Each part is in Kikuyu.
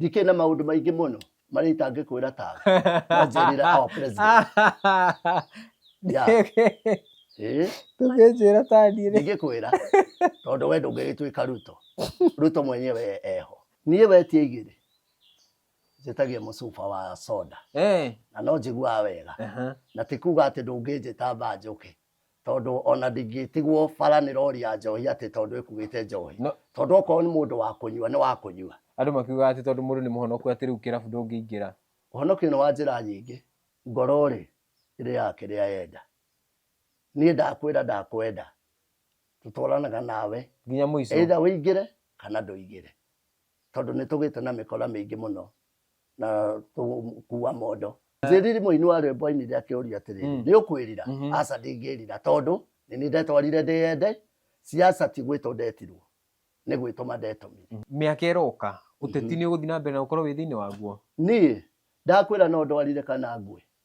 ndikĩrĩ na maũndũ maingĩ mũno marĩa itangĩkwĩra tawe wanjĩrĩra our president Yeah. Eh, tũgĩnjĩra taniĩ rĩ ndingĩkwĩra tondũ we ndũngĩgĩtuĩka ruto ruto mwenyewe eho niĩ wetie igĩrĩ njĩtagia mũcuba wa soda Eh, na no njiguaga wega aha. na ti kuga atĩ ndũngĩnjĩta mbanjũke tondå ona ndingĩtigwo bara nä rori ya njohi atä tondå ä kuä te njohi No- tondå okorwo nä må ndå wa kå nyua nä wa kå nyua andå makiugaga atä tondå må ndå nä må honoku atä rä u kä rabu ndå ngä ingä ra ũhonokio nĩ wa njĩra nyingĩ ngoro rĩ ĩrĩaga kĩrĩa yenda niĩ ndakwĩra ndakwenda tũtwaranaga nawe nginya må ico either ũingĩre kana ndũingĩre tondũ nĩ tũgĩte na mĩkora mĩingĩ mũno na tũkuua mondo njĩriri mũini wa rwĩmbo ainire akĩũria atĩrĩ Mm. nĩ ũkwĩrira Mhm. aca ndingĩrira tondũ nĩ nĩ ndetwarire ndĩyende ciaca ti gwĩtwo ndetirwo nĩ gwĩtũma ndetomire mĩaka ĩroka ũteti nĩ ũgũthiĩ na mbere na ũkorwo wĩ thĩinĩ waguo niĩ ndakwĩra no ndwarire kana ngwe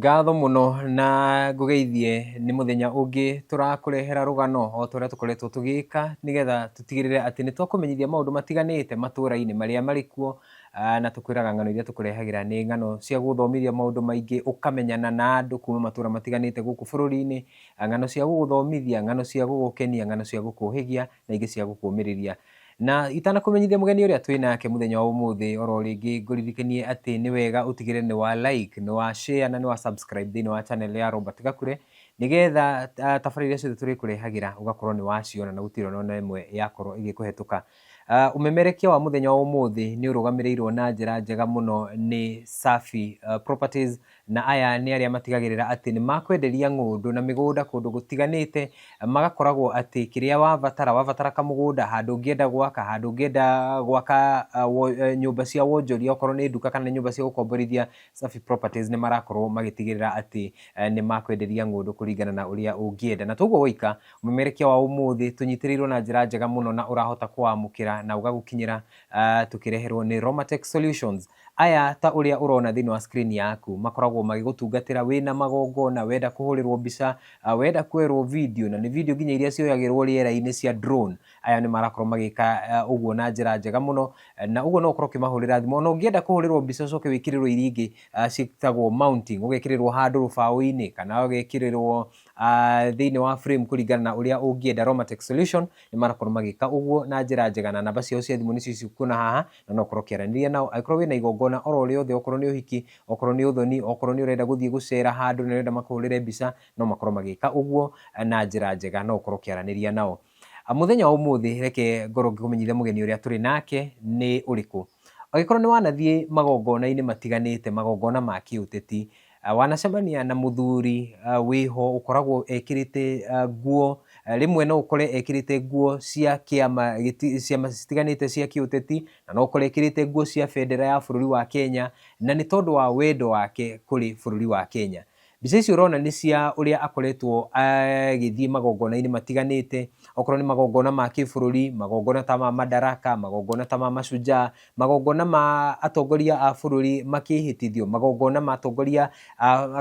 Ngatho mũno na ngũgeithie nĩ mũthenya ũngĩ tũrakũrehera rũgano o ta ũrĩa tũkoretwo tũgĩka nĩgetha tũtigĩrĩre atĩ nĩ twakũmenyithia maũndũ matiganĩte matũra-inĩ marĩa marĩ kuo ah, na tũkwĩraga ng'ano iria tũkũrehagĩra nĩ ng'ano cia gũgũthomithia maũndũ maingĩ ũkamenyana na andũ kuma matũra matiganĩte gũkũ bũrũri-inĩ ah, ng'ano cia gũgũthomithia ng'ano cia gũgũkenia ng'ano cia gũkũhĩgia na ingĩ cia gũkũmĩrĩria Na itanakũmenyithia mũgeni ũrĩa twĩ nake mũthenya wa ũmũthĩ, oro rĩngĩ ngũririkanie atĩ nĩ wega ũtigĩrĩre nĩ wa like, nĩ wa share na nĩ wa subscribe thĩinĩ wa channel ya Robert Gakure, nĩgetha tabarĩra iria ciothe tũrĩkũrehagĩra ũgakorwo nĩ waciona na gũtirĩ ona na ĩmwe yakorwo ĩgĩkũhetũka. Ah, Ũmemerekia wa mũthenya wa ũmũthĩ nĩ ũrũgamĩrĩirwo na njĩra njega mũno nĩ Safi ah, Properties Na aya nĩ arĩa matigagĩrĩra atĩ nĩ makwenderia ng'ũndũ na mĩgũnda kũndũ gũtiganĩte, magakoragwo atĩ kĩrĩa wabatara, wabatara kamũgũnda, handũ ũngĩenda gwaka, handũ ũngĩenda gwaka nyũmba cia wonjoria okorwo nĩ nduka kana nĩ nyũmba cia gũkomborithia, Safi Properties nĩ marakorwo magĩtigĩrĩra atĩ nĩ makwenderia ng'ũndũ kũringana na ũrĩa ũngĩenda. Na to ũguo woika, ũmemerekia wa ũmũthĩ tũnyitĩrĩirwo na njĩra njega mũno na ũrahota kũwamũkĩra na ũgagũkinyĩra tũkĩreherwo nĩ Romatex Solutions. Aya ta ũrĩa ũrona thĩinĩ wa screen yaku makoragwo magĩgũtungatĩra wĩna magongona, wenda kũhũrĩrwo mbica, wenda kwerwo video, na nĩ video nginya iria cioyagĩrwo rĩera-inĩ cia drone, aya nĩ marakorwo magĩka ũguo na njĩra njega mũno, na ũguo no ũkorwo ũkĩmahũrĩra thimũ. Ona ũngĩenda kũhũrĩrwo mbica ũcoke wĩkĩrĩrwo iria ingĩ ciĩtagwo mounting, ũgekĩrĩrwo handũ rũbaũ-inĩ kana ũgekĩrĩrwo uh, thĩinĩ wa frame kũringana na ũrĩa ũngĩenda Romatech Solution nĩ marakorwo magĩka ũguo na njĩra njega na namba ciao cia thimũ nĩcio cikuona haha na no korwo kĩaranĩria nao angĩkorwo wĩna igongona oro rĩothe okorwo nĩ ũhiki okorwo nĩ ũthoni okorwo nĩ ũrenda gũthiĩ gũcera handũ na ũrenda makũhũrĩre mbica no makorwo magĩka ũguo na njĩra njega no ũkorwo kĩaranĩria nao ah, mũthenya wa ũmũthĩ reke ngorwo ngĩkũmenyithia mũgeni ũrĩa tũrĩ nake nĩ ũrĩkũ angĩkorwo nĩ wanathiĩ magongona-inĩ matiganĩte magongona ma kĩũteti Ah, wanacemania na mũthuri ah, wĩho ũkoragwo ekĩrĩte ah, nguo ah, rĩmwe no ũkore ekĩrĩte nguo cia kĩama gĩti- ciama citiganĩte cia kĩũteti na no ũkore ekĩrĩte nguo cia bendera ya bũrũri wa Kenya na nĩ tondũ wa wendo wake kũrĩ bũrũri wa Kenya mbica ici ũrona nĩ cia ũrĩa akoretwo agĩthiĩ magongona-inĩ matiganĩte okorwo nĩ magongona ma kĩbũrũri magongona ta ma madaraka magongona ta ma mashujaa magongona ma atongoria a bũrũri makĩhĩtithio magongona ma atongoria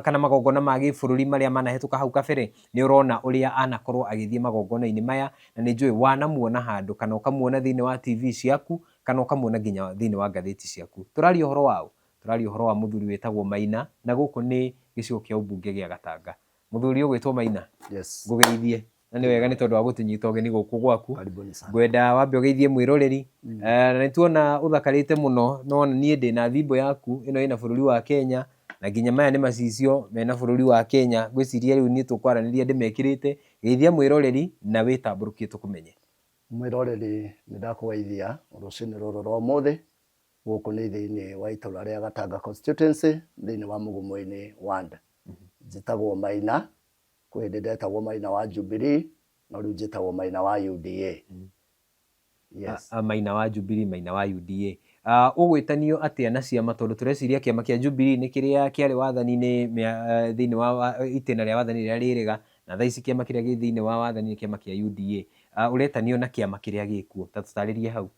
kana magongona ma gĩbũrũri marĩa manahĩtũka hau kabere nĩ ũrona ũrĩa anakorwo agĩthiĩ magongona-inĩ maya na nĩ njũĩ wanamuona handũ kana ũkamuona thĩinĩ wa TV ciaku kana ũkamuona nginya thĩinĩ wa ngathĩti ciaku tũraria ũhoro wa ũ tũraria ũhoro wa mũthuri wĩtagwo Maina na gũkũ nĩ gĩcigo kĩa ũmbunge gĩa Gatanga mũthuri ũgwĩtwo Maina yes. ngũgeithie na nĩ wega nĩ tondũ wa gũtũnyita ũgeni gũkũ gwaku Karibuni sana. ngwenda wambe ũgeithie mwĩroreri mm. na nĩ tuona ũthakarĩte mũno no na niĩ ndĩ na thimbo yaku ĩno ĩna bũrũri wa kenya na nginya maya nĩ macicio mena bũrũri wa kenya ngwĩciria rĩu niĩ tũkwaranĩria ndĩmekĩrĩte geithia mwĩroreri na wĩtambũrũkie tũkũmenye mwĩroreri nĩ ndakũgeithia rũcinĩ rũrũ rwa ũmũthĩ gũkũ nĩ thĩinĩ wa itũra rĩa gatanga constituency thĩinĩ wa mũgumo-inĩ ward njĩtagwo maina Kwĩ hĩndĩ ndetagwo Maina wa Jubilee, no rĩu njĩtagwo Maina wa UDA. Mm. Yes. A, a, Maina wa Jubilee, Maina wa UDA. Uh, ũgwĩtanio atĩa na ciama tondũ tũreciria kĩama kĩa Jubilee nĩ kĩrĩa kĩarĩ wathani-inĩ uh, thĩinĩ wa, wa itĩna rĩa wathani rĩrĩa rĩrĩga na thaa ici kĩama kĩrĩa gĩ thĩinĩ wa wathani nĩ kĩama kĩa UDA uh, ũretanio na kĩama kĩrĩa gĩkuo ta tũtarĩrie hau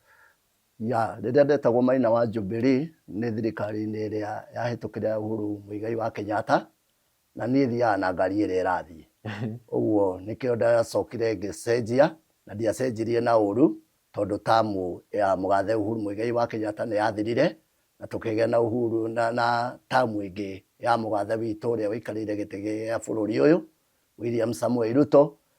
ya rĩrĩa ndetagwo maina wa Jubilee nĩ thirikari-inĩ ĩrĩa yahĩtũkĩra Uhuru Muigai wa Kenyatta na niĩ thiaga na ngari ĩrĩa ĩrathiĩ ũguo nĩkĩo ndacokire ngĩcenjia na ndiacenjirie na ũru tondũ tamu ya mũgathe Uhuru Muigai wa Kenyatta nĩ yathirire na tũkĩgĩa na Uhuru na, na tamu ĩngĩ ya mũgathe witũ ũrĩa ũikarĩire gĩtĩ gĩa bũrũri ũyũ William Samuel Ruto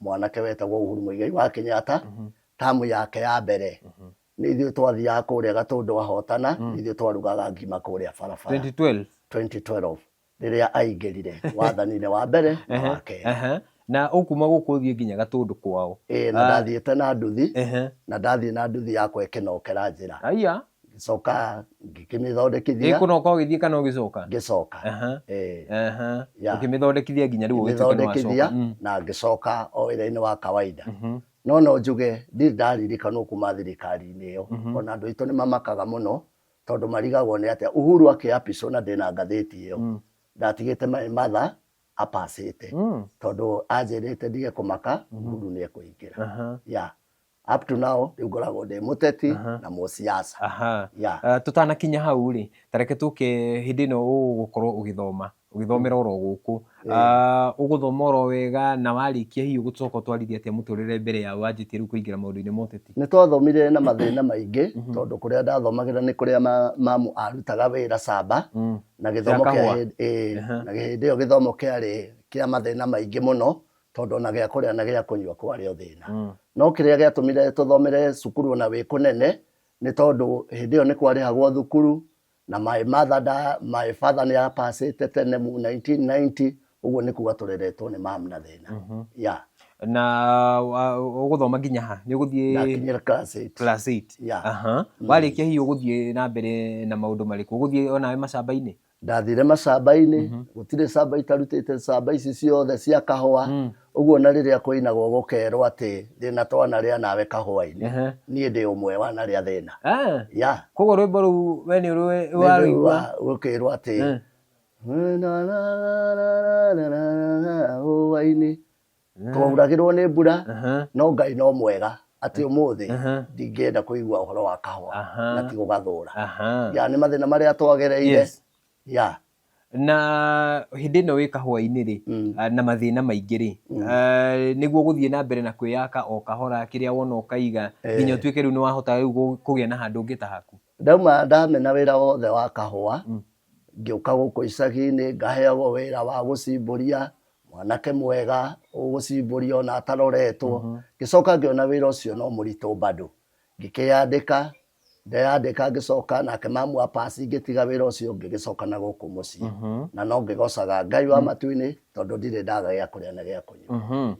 mwanake wetagwo Uhuru Muigai wa Kenyatta mm -hmm. tamu yake ya mbere mm -hmm. nä ithuä twathiaga kå rä a gatå ndå ahotana mm. nä ithuä twarugaga ngima kå rä a barabara 2012 2012 rä rä a aingä rire wathaninä wa mbere na wa kerä uh -huh na ukuma guku thie nginya gatundu kwao eh na ah. ndathiite na nduthi na ndathie na nduthi yakwa ikinokera njira aya ngĩcoka ngĩkĩmĩthondekithia ĩkũnoka ũgĩthiĩ kana ũgĩcoka ngĩcoka Aha, eh, aha. Ya. ũkĩmĩthondekithia nginya rĩu ũgĩtuĩke nĩ ngĩthondekithia wacoka. Mm, na ngĩcoka o wĩra-inĩ wa kawaida mhm, no no njuge ndirĩ ndaririkanwo kuma thirikari-inĩ ĩyo Mhm. ona andũ aitũ nĩ mamakaga mũno tondũ marigagwo nĩ atĩa uhuru akĩapicwo na ndĩna ngathĩti ĩyo mm, ndatigĩte maĩ matha apacĩte mm, tondũ anjĩrĩte ndige kũmaka Mhm. uhuru nĩ ekũingĩra aha. ya up to now rä u ngoragwo ndä må teti Aha. na må ciaca aha yeah. Ah, tũtanakinya hau rĩ tareke tũke hĩndĩ ĩno ũgũkorwo ũgĩthoma ũgĩthomera oro gũkũ Ah, ũgũthoma oro wega na warĩkia hihi ũgũcoka ũtwarithia atĩa mũtũrĩre mbere ya wanjĩtie rĩu kũingĩra maũndũ-inĩ ma ũteti nä twathomire na mathä na maingä tondå kå rä a ndathomagä ra nä kå rä a ma- mamu arutaga wä ra camba Mm. na gä thomo Gĩa kahũa. kä Aha. na hä ndä ä yo gä thomo kä arä kä a mathä na maingä må no tondũ ona gĩa kũrĩa na gĩa kũnyua kwarĩ o thĩna mm. no kĩrĩa gĩatũmire tũthomere cukuru ona wĩ kũnene nĩ tondũ hĩndĩ ĩyo nĩ kwarĩhagwo thukuru na my mother da my father nĩ apacĩte tene mu 1990 ũguo nĩ kuga tũreretwo nĩ mam na thĩna mm -hmm. yeah na ũgũthoma nginya ha nĩ ũgũthiĩ class 8 class 8 yeah. uh -huh. mm. warĩkia hihi ũgũthiĩ na mbere na maũndũ marĩkũ ũgũthiĩ onawe macamba-inĩ ndathire macamba-inĩ Mhm. gũtirĩ camba itarutĩte camba ici ciothe cia kahũa Mm. ũguo na rĩrĩa kũinagwo gũkerwo atĩ thĩna twana rĩa nawe kahũa-inĩ Ehe. niĩ ndĩ ũmwe wa na rĩa thĩna Ah, ya koguo rwĩmbo rũu we nĩ ũrũĩ- nĩ warũigua rĩu gũkĩrwo atĩ Eh. hũa-inĩ Mhm. twauragirwo nĩ mbura Aha. no ngai no mwega atĩ ũmũthĩ Aha. ndingĩenda kũigua ũhoro wa kahũa Aha. na ti gũgathũra Aha. ya nĩ mathĩna marĩa twagereire Yes. ya na hĩndĩ ĩno wĩ kahũa-inĩ rĩ Mm. ah, na mathĩna maingĩ rĩ ah, nĩguo gũthiĩ na mbere na kwĩyaka o kahora kĩrĩa wona ũkaiga Eh. nginya ũtuĩke rĩu nĩ wahota rĩu gũ- kũgĩa na handũ ũngĩtahaku ndauma ndamena wĩra wothe wa kahũa mm. ngĩũka gũkũ icagi-inĩ ngaheagwo wĩra wa gũcimbũria mwanake mwega ũgũcimbũria ona ataroretwo mm-hmm. ngĩcoka ngĩona wĩra ũcio no mũritũ bado ngĩkĩyandĩka ndeyandĩka ngĩcoka nake mamu wa pasi ngĩtiga wĩra ũcio ngĩgĩcoka na gũkũ mũciĩ mm-hmm. na no ngĩgocaga ngai wa mm. matu-inĩ tondũ ndirĩ ndaga gĩa kũrĩa na gĩa kũnyua mm-hmm.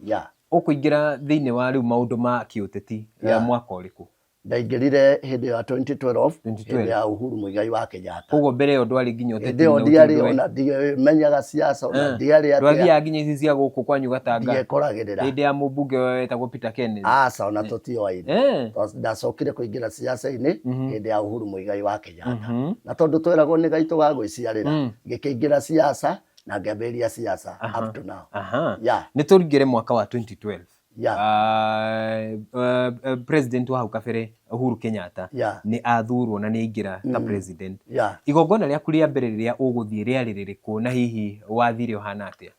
ũkũingĩra thĩinĩ wa rĩu maũndũ ma kĩũteti ya mwaka ũrĩkũ Ndaingĩrire hĩndĩ ya 2012 2012. hĩndĩ ya Uhuru Muigai wa Kenyatta. koguo mbere ĩyo ndwarĩ nginya Hĩndĩ ũteti-inĩ ĩyo ndiarĩ ũtindũe. ona ndimenyaga ciaca ona Eh, ndiarĩ atĩa ndwathiaga nginya ici cia gũkũ kwanyu gatanga ndiekoragĩrĩra. hĩndĩ ya mũmbunge ũyũ wetagwo peter kenneth Aca ona tũtioaine. Eh, Twa- ndacokire kũingĩra ciaca-inĩ Mhm. hĩndĩ ya Uhuru Muigai wa Kenyatta mhm. na tondũ tweragwo nĩ gaitũ ga gwĩciarĩra Mm. ngĩkĩingĩra ciaca na ngĩambĩrĩria ciaca Aha. up to now Aha. yeah. nĩ tũringĩre mwaka wa 2012 yeah. uh, uh, uh, president wa hau kabere Uhuru Kenyatta yeah. nĩ athurwo na nĩ aingĩra ta mm. president yeah. igongona rĩaku rĩa mbere rĩrĩa ũgũthiĩ rĩarĩ rĩrĩkũ na hihi wathire ũhana atĩa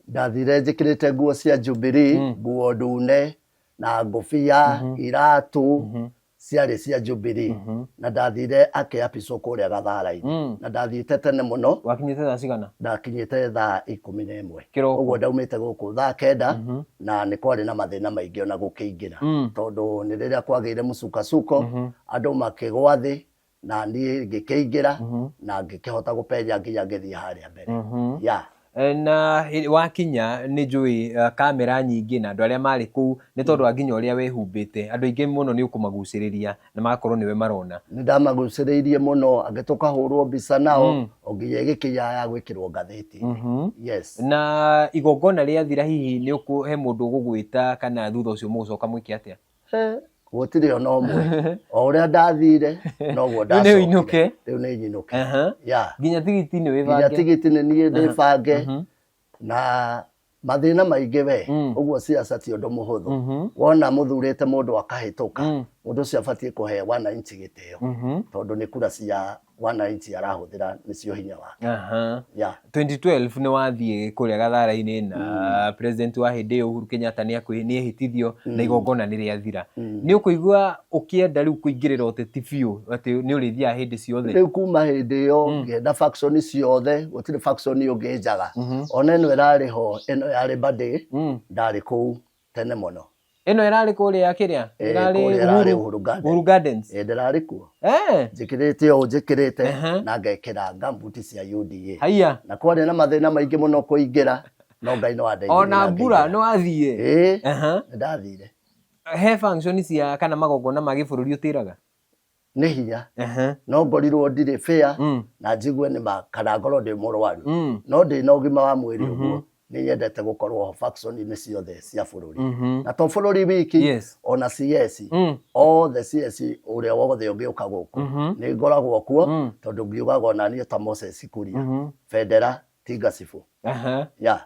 ndathire njĩkĩrĩte nguo cia Jubilee mm. nguo ndune na ngũbia mm -hmm. iratũ mm -hmm. ciarĩ cia njubiri Mhm. na ndathire akĩapicwo kũrĩa gatharainĩ Mm. na ndathiĩte tene mũno wakinyĩte thaa cigana ndakinyĩte thaa ikũmi na ĩmwe Kĩroko. ũguo ndaumĩte gũkũ thaa kenda Mhm. na nĩ kwarĩ na mathĩna maingĩ ona gũkĩingĩra Mm. tondũ nĩ rĩrĩa kwagĩire mũcukacuko andũ makĩgwa thĩ na niĩ ngĩkĩingĩra Mhm. na ngĩkĩhota gũpenya nginya ngĩthiĩ harĩa mbere Mhm. ya Eh, na hĩ- wakinya nĩ njũĩ eh, kamera nyingĩ na andũ arĩa marĩ kũu nĩ tondũ wa nginya ũrĩa wehumbĩte andũ aingĩ mũno nĩ ũkũmagucĩrĩria na magakorwo nĩwe marona nĩ ndamagucĩrĩirie mũno angĩ tũkahũrwo mbica nao Mm. o nginya ĩgĩkinya ya gwĩkĩrwo ngathĩti Mhm. yes na igongona rĩathira hihi nĩ ũkũ- he mũndũ ũgũgwĩta kana thutha ũcio mũgũcoka mwĩke atĩa gũtirĩ ona ũmwe o ũrĩa ndathire noguo Rĩu nĩ ũinũke. rĩu nĩ nyinũke Aha. ya nginya tigiti nĩ nginya wĩbange tigiti nĩ niĩ ndĩbange Mhm. na mathĩna maingĩ we Mm. ũguo ciaca ti ũndũ mũhũthũ Mhm. wona mũthurĩte mũndũ akahĩtũka Mm. mũndũ ũcio abatiĩ kũhe wananchi gĩtĩo Mhm. tondũ nĩ kura cia wananchi arahũthĩra nĩcio hinya wake Aha. yeah. 2012 nĩ wathiĩ kũrĩa gathara-inĩ na president wa hĩndĩ ĩyo Uhuru Kenyatta nĩ akwi- nĩ ehĩtithio na igongona nĩ rĩathira nĩ ũkũigua ũkĩenda rĩu kũingĩrĩra ũteti biũ atĩ nĩ ũrĩthiaga hĩndĩ ciothe rĩu kuma hĩndĩ ĩyo ngĩenda faction ciothe gũtirĩ faction ũngĩ njaga ona ĩno ĩrarĩ ho ĩno yarĩ mbandĩ ndarĩ kũu tene mũno ĩno ĩrarĩ kũrĩa kĩrĩa Eh, ĩrarĩ kũrĩa ĩrarĩ Uhuru- Uhuru Gardens. Uhuru Gardens Eh, ndĩrarĩ kuo Eh, njĩkĩrĩte ũũ njĩkĩrĩte Ehe. na ngekĩra ngambuti cia UDA haiya na kwarĩ na mathĩna maingĩ mũno kũingĩra no ngai no andeithirie ona na mbura ngĩingĩra. no athiĩ Ĩĩ, Aha. nĩndathire he function cia kana magongona ma gĩbũrũri ũtĩraga nĩ hinya Ehe. no ngorirwo ndirĩ bĩa Mm. na njigue nĩ ma kana ngorwo ndĩ mũrwaru Mm. no ndĩ na ũgima wa mwĩrĩ Mhm. ũguo nĩ nyendete gũkorwo ho factory-inĩ ciothe cia bũrũri Mhm. na to bũrũri wiki Yes. ona CS Mm. othe CS ũrĩa wothe ũngĩũka gũkũ Mhm. nĩ ngoragwo kuo Mm. tondũ ngiugaga ona niĩ ta Moses Kuria Mhm. bendera ti ngacibũ Ehe. ya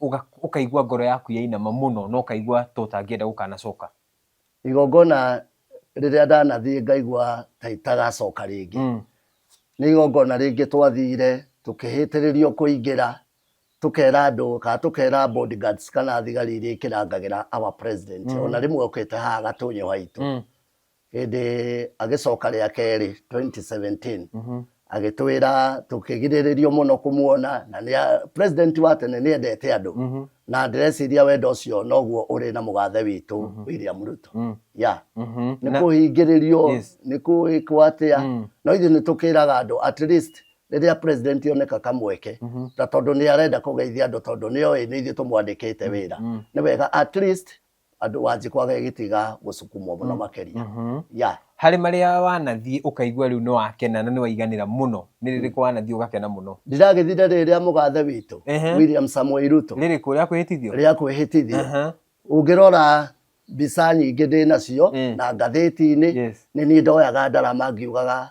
ũga- ũkaigua ngoro yaku yainama mũno na ũkaigua ta ũtangĩenda gũkanacoka igongona rĩrĩa ndanathiĩ ngaigua ta itagacoka rĩngĩ Mm. nĩ igongona rĩngĩ twathire tũkĩhĩtĩrĩrio kũingĩra tũkera andũ kana tũkera bodyguards kana thigari iria ikĩrangagĩra our president Mm. ona rĩmwe ũkĩte haha gatũnyũ haitũ Mm. Hĩndĩ agĩcoka rĩa kerĩ 2017 mhm. agĩtwĩra tũkĩgirĩrĩrio mũno kũmuona na nĩ president wa tene nĩ endete andũ mhm. na ndĩreciria wendo ũcio noguo ũrĩ na mũgathe witũ mhm. William Ruto mm. ya nĩ kũhingĩrĩrio nĩ kũĩkwo atĩa mm. no ithuĩ nĩ tũkĩraga andũ at least rĩrĩa president oneka kamweke mm -hmm. na tondũ nĩ arenda kũgeithia andũ tondũ nĩ oĩ nĩ ithuĩ tũmwandĩkĩte mm -hmm. wĩra mm -hmm. nĩ wega at least andũ wanjĩ kwaga gĩtiga gũcukumwo mũno makĩria ya harĩ marĩa wanathiĩ ũkaigua rĩu nĩ wakena na nĩ waiganĩra mũno nĩ rĩrĩkũ wanathiĩ ũgakena mũno ndiragĩthire rĩrĩ rĩa mũgathe witũ Ehe. William Samoei Ruto rĩrĩkũ rĩa kwĩhĩtithio rĩa kwĩhĩtithia Aha. ũngĩrora mbica nyingĩ ndĩ nacio Mm. na ngathĩti-inĩ Yes. nĩ niĩ ndoyaga ndarama ngiugaga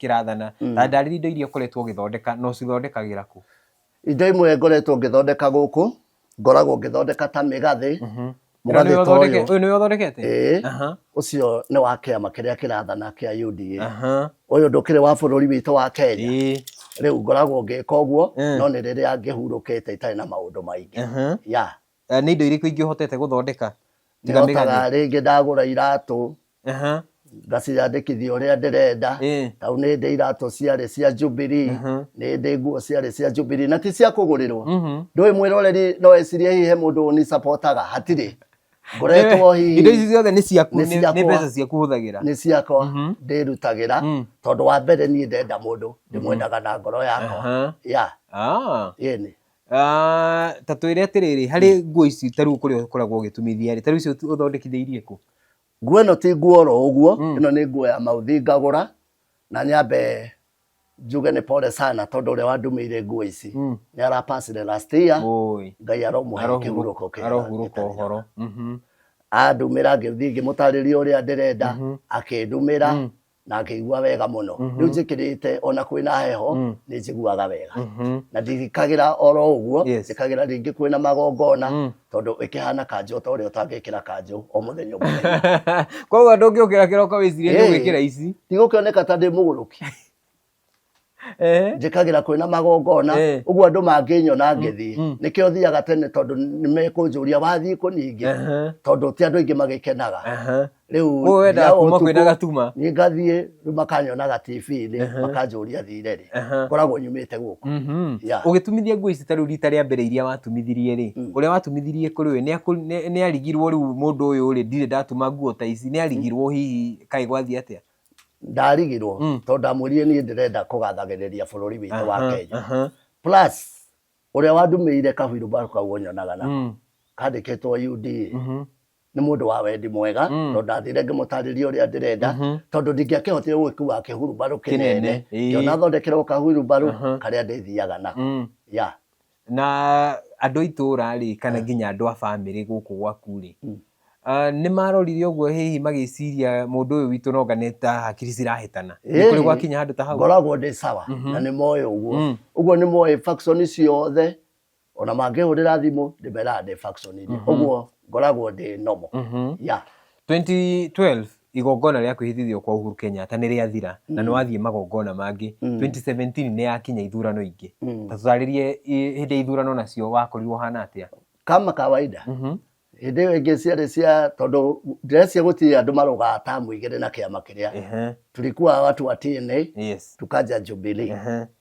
kĩrathana mm. na ndarĩria indo iria ũkoretwo ũgĩthondeka na ũcithondekagĩra kũ indo imwe ngoretwo ngĩthondeka gũkũ ngoragwo ngĩthondeka ta mĩgathĩ mhm. mũgathĩ ta ũyũ ũyũ nĩwe ũthondekete ũcio nĩ wa kĩama kĩrĩa kĩrathana kĩa UDA ũyũ ndũkĩrĩ wa bũrũri witũ wa Kenya rĩu ngoragwo ngĩka ũguo no nĩ rĩrĩa ngĩhurũkĩte itarĩ na maũndũ maingĩ ya Eh, nĩ indo irĩkũ ingĩ ũhotete gũthondeka tiga mĩgathĩ ndotaga rĩngĩ ndagũra iratũ Aha, ngaciyandĩkithia ũrĩa ndĩrenda ĩ, tau nĩ ndĩ iratũ ciarĩ cia jubilee Mhm. nĩ ndĩ nguo ciarĩ cia jubilee na ti cia kũgũrĩrwo mhm. ndũĩ mwĩroreri no ecirie hihi he mũndũ ũnisapotaga hatirĩ ngoretwo hihi indo ici ciothe nĩ ciaku Nĩ nĩ nĩ ciakwa. mbeca ciaku hũthagĩra nĩ ciakwa Mhm. ndĩrutagĩra Mm. tondũ wa mbere niĩ ndenda mũndũ ndĩmwendaga na ngoro yakwa Aha. ya Ah. yeni Ah, ta twĩre atĩrĩrĩ harĩ nguo ici ta rĩu kũrĩa ũkoragwo ũgĩtumithia rĩ ta rĩu icio tu- ũthondekithĩirie kũ nguo ĩno ti nguo oro ũguo Mm. ĩno nĩ nguo ya mauthi ngagũra na nyambe njuge nĩ pole sana tondũ ũrĩa wandumĩire nguo ici Mm. nĩ arapacire last year Oi, ngai aromũhe arohurũka- kĩhurũko kĩega arohurũka gĩtarĩ na- ũhoro Mhm, andumĩra ngĩthiĩ ngĩmũtarĩria ũrĩa ndĩrenda Mhm. akĩndumĩra Mm. na ngĩigua wega mũno Mhm. rĩu njĩkĩrĩte ona kwĩna heho Mm. nĩ njiguaga wega Mhm. na ndirikagĩra oro ũguo Yes. njĩkagĩra rĩngĩ kwĩna magongona Mm. tondũ ĩkĩhana kanjũ ta ũrĩa ũtangĩkĩra kanjũ o mũthenya o mũthenya koguo ndũngĩũkĩra kĩroko wĩcirie nĩ Hey. ũgwĩkĩra ici tigũkĩoneka ta ndĩ mũgũrũki Eh. njĩkagĩra kwĩ na magongona Eh. ũguo andũ mangĩnyona ngĩthiĩ mm. nĩkĩo thiaga tene tondũ nĩ mekũnjũria wathiĩ kũ ningĩ Aha, tondũ ti andũ aingĩ magĩkenaga aha. rĩu Ũguo wendaga thiaga kuma kwĩ na ũtukũ, gatuma. niĩ ngathiĩ rĩu makanyonaga tv-inĩ makanjũria thire rĩ Aha. ngoragwo nyumĩte gũkũ Mhm. Yeah. ũgĩtumithia nguo ici ta rĩu rita rĩa mbere iria watumithirie rĩ ũrĩa watumithirie kũrĩ we nĩ akũ- nĩ- nĩ arigirwo rĩu mũndũ ũyũ rĩ ndirĩ ndatuma nguo ta ici nĩ arigirwo hihi kaĩ gwathiĩ atĩa ndarigirwo Mm. tondũ ndamwĩrire niĩ ndĩrenda kũgathagĩrĩria bũrũri witũ wa Aha, kenya aha. plus ũrĩa wandumĩire kahuirũmbarũ kau ũnyonaga na Mm, kandĩkĩtwo uda mhm, nĩ mũndũ wa wendi mwega Mm. tondũ ndathire ngĩmũtarĩria ũrĩa ndĩrenda mhm. tondũ ndingĩakĩhotire gwĩkua kĩhurubarũ Kĩnene, kĩnene ĩĩ. ngĩona thondekerwo kahurubarũ Aha. karĩa ndĩthiaga nako Mm, ya Na andũ a itũũra rĩ, kana nginya andũ a bamĩrĩ gũkũ gwaku rĩ, Mm. ah, nĩ marorire ũguo hihi magĩciria mũndũ ũyũ witũ noga nĩ ta hakiri cirahĩtana. Nĩ kũrĩ Ĩĩ. gwakinya handũ ta hau? ngoragwo ndĩ sawa Mhm. na nĩ moĩ ũguo Mm. ũguo nĩ moĩ faction ciothe ona mangĩhũrĩra thimũ ndĩmeraga ndĩ faction inĩ ũguo ngoragwo ndĩ nomo Mhm. ya 2012 igongona rĩa kwĩhĩtithio kwa Uhuru Kenyatta nĩ rĩathira na nĩ wathiĩ magongona mangĩ 2017 nĩ yakinya ithurano ingĩ ta tũtarĩrie i- hĩndĩ ya ithurano nacio wakorirwo hana atĩa kama kawaida hĩndĩ ĩyo ĩngĩ ciarĩ cia tondũ ndĩrecia gũtirĩ andũ marogaa tamu igĩrĩ na kĩama kĩrĩa Ehe, tulikuwa watu wa TNA yes tukaja Jubilee Ehe,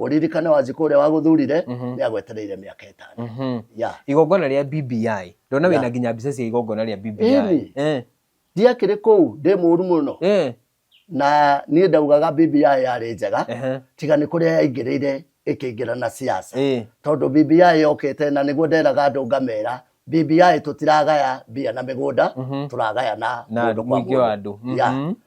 ũririkane wanjikũ ũrĩa wagũthurire nĩ agwetereire mĩaka ĩtano Mhm. ya igongona rĩa bbi ndona wĩna Yeah. nginya mbica cia igongona rĩa bbi Ĩni. Eh, ndiakĩrĩ kũu ndĩ mũru mũno eh, na niĩ ndaugaga bbi yarĩ njega ehe, tiga nĩ kũrĩa yaingĩrĩire ĩkĩingĩra na siasa eh, tondũ bbi yokĩte na nĩguo nderaga andũ ngamera bbi tũtiragaya mbia na mĩgũnda Mhm. tũragaya na na mũndũ kwa mũingĩ wa mũndũ. andũ Ya. Mhm.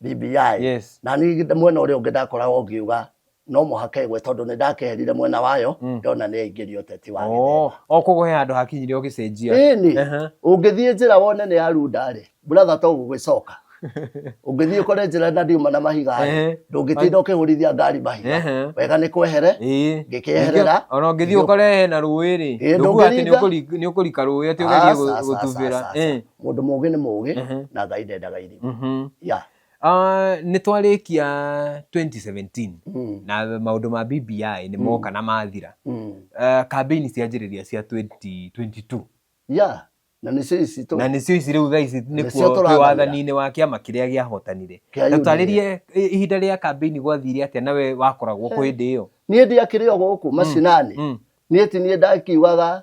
BBI Yes. na niĩ mwena ũrĩa ũngĩ ndakoragwo ngiuga no mũhaka ĩgwe tondũ nĩ ndakeherire mwena wayo Mm. ndona nĩ yaingĩria ũteti wa Oh, o koguo he handå hakinyire å gä cenjia ĩni Aha. ũngĩthiĩ njĩra wone nĩ ya rundarĩ buratha to gũgĩcoka ũngĩthiĩ ũkore njĩra na ndiuma na mahiga Ehe. ndũngĩtinda ũkĩhũrithia ngari mahiga Ehe. wega nĩ kwehere Ĩĩ. Ngĩkĩeherera. ona å ngä thiä å kore hena rå ä rä Ĩĩ, ndå kuga atä ndũngĩringa. nä å kå rika rå ä atä å gerie Aca, aca, gå tubä ra aca, aca. Mũndũ mũũgĩ nĩ mũũgĩ Mhm. na Ngai ndendaga irimũ. Mhm. Ya. Ah, nĩ twarĩkia 2017 Mm, na maũndũ ma BBI nĩ moka na mathira mm. Ah, kambĩini cianjĩrĩria cia 2022 Ya. Na nĩcio ici tũ- na nĩcio ici rĩu thaa ici Nĩcio nĩkuo twĩ tũrathamĩra. wathani-inĩ wa kĩama kĩrĩa gĩahotanire Kĩa na UDA. twarĩrie i- ihinda rĩa kambĩini gwathire atĩa nawe wakoragwo kwa hĩndĩ ĩyo niĩ ndiakĩrĩ o gũkũ macinani Mm. niĩ ti niĩ ndakiugaga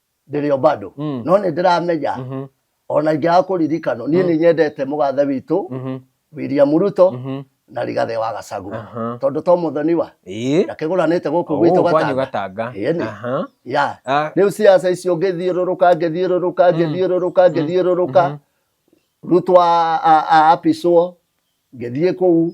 ndĩrĩo bado Mm. no nĩ ndĩramenya Mhm. ona ingĩaga kũririkano niĩ nĩ nyendete mũgathe witũ Mhm. William Ruto Mhm. na Rigathĩ wa Gachagua Aha. tondũ to mũthoni wa Ĩĩ. na kĩgũranĩte gũkũ gwitũ Gũkũ kwanyu gatanga gatanga Ĩĩ nĩ. Aha. ya Ah, rĩu ciaca icio ngĩthiũrũrũka ngĩthiũrũrũka ngĩthiũrũrũka ngĩthiũrũrũka rutwo a- a- a- apicwo ngĩthiĩ kũu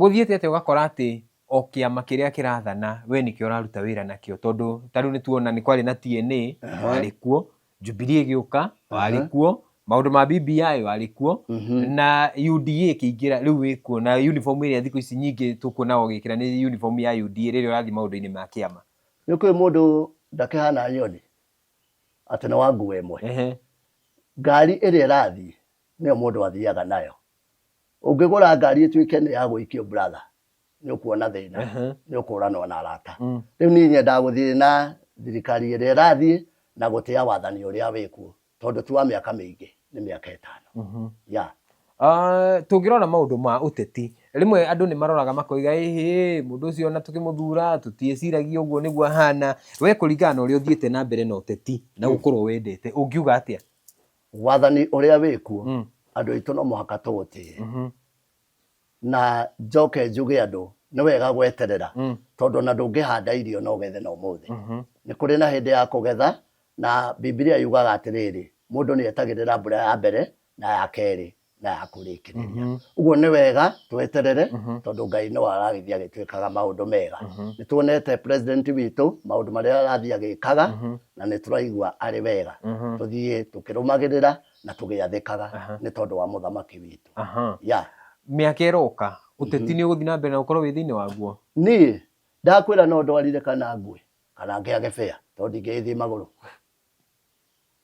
Gũthiĩte atĩa ũgakora atĩ o kĩama kĩrĩa kĩrathana we nĩkĩo ũraruta wĩra nakĩo? Tondũ ta rĩu nĩtuona nĩ kwarĩ na TNA, warĩ kuo, Jubilee ĩgĩũka, warĩ kuo, maũndũ ma BBI warĩ kuo, na UDA ĩkĩingĩra, rĩu wĩ kuo, na uniform ĩrĩa thikũ ici nyingĩ tũkuonaga ũgĩkĩra nĩ uniform ya UDA rĩrĩa ũrathiĩ maũndũ-inĩ ma kĩama. Nĩ kũrĩ mũndũ ndakĩhana nyoni atĩ nĩ wa nguo ĩmwe. Ngari ĩrĩa ĩrathiĩ nĩyo mũndũ athiaga nayo. ũngĩgũra ngari ĩtuĩke nĩ ya gũikio brother nĩ ũkuona thĩna Ehe. nĩ ũkũranwo na arata Mm. rĩu niĩ nyendaga gũthiĩ na thirikari ĩrĩa ĩrathiĩ na gũtĩa wathani ũrĩa wĩkuo tondũ ti wa mĩaka mĩingĩ nĩ mĩaka ĩtano Mhm. ya Ah, tũngĩrora maũndũ ma ũteti rĩmwe andũ nĩ maroraga makoiga ĩhĩ mũndũ ũcio ona tũkĩmũthura tũtiĩciragia ũguo nĩguo ahana we kũringana na ũrĩa ũthiĩte na mbere na ũteti na gũkorwo wendete ũngiuga atĩa wathani ũrĩa wĩkuo mm. andũ aitũ no mũhaka tũũtĩe mm -hmm. na njoke njuge andũ nĩ wega gweterera mm. tondũ na ndũngĩhanda irio no gethe na ũmũthĩ mm -hmm. nĩ kũrĩ na hĩndĩ ya kũgetha na bibilia yugaga atĩrĩrĩ mũndũ nĩ etagĩrĩra mbura ya mbere na ya kerĩ na ya kũrĩkĩrĩria Mhm. ũguo nĩ wega tweterere Mhm. tondũ ngai no aragĩthiĩ agĩtwĩkaga maũndũ mega Mhm. nĩ tuonete president witũ maũndũ marĩa arathiĩ agĩkaga Mhm. na nĩ tũraigua arĩ wega Mhm. tũthiĩ tũkĩrũmagĩrĩra na tũgĩathĩkaga Aha. nĩ tondũ wa mũthamaki witũ Aha. ya mĩaka ĩroka ũteti nĩ ũgũthiĩ na mbere na ũkorwo wĩ thĩinĩ waguo niĩ ndakwĩra no ndwarire kana ngwe kana ngĩage bĩa tondũ ndingĩgĩthiĩ magũrũ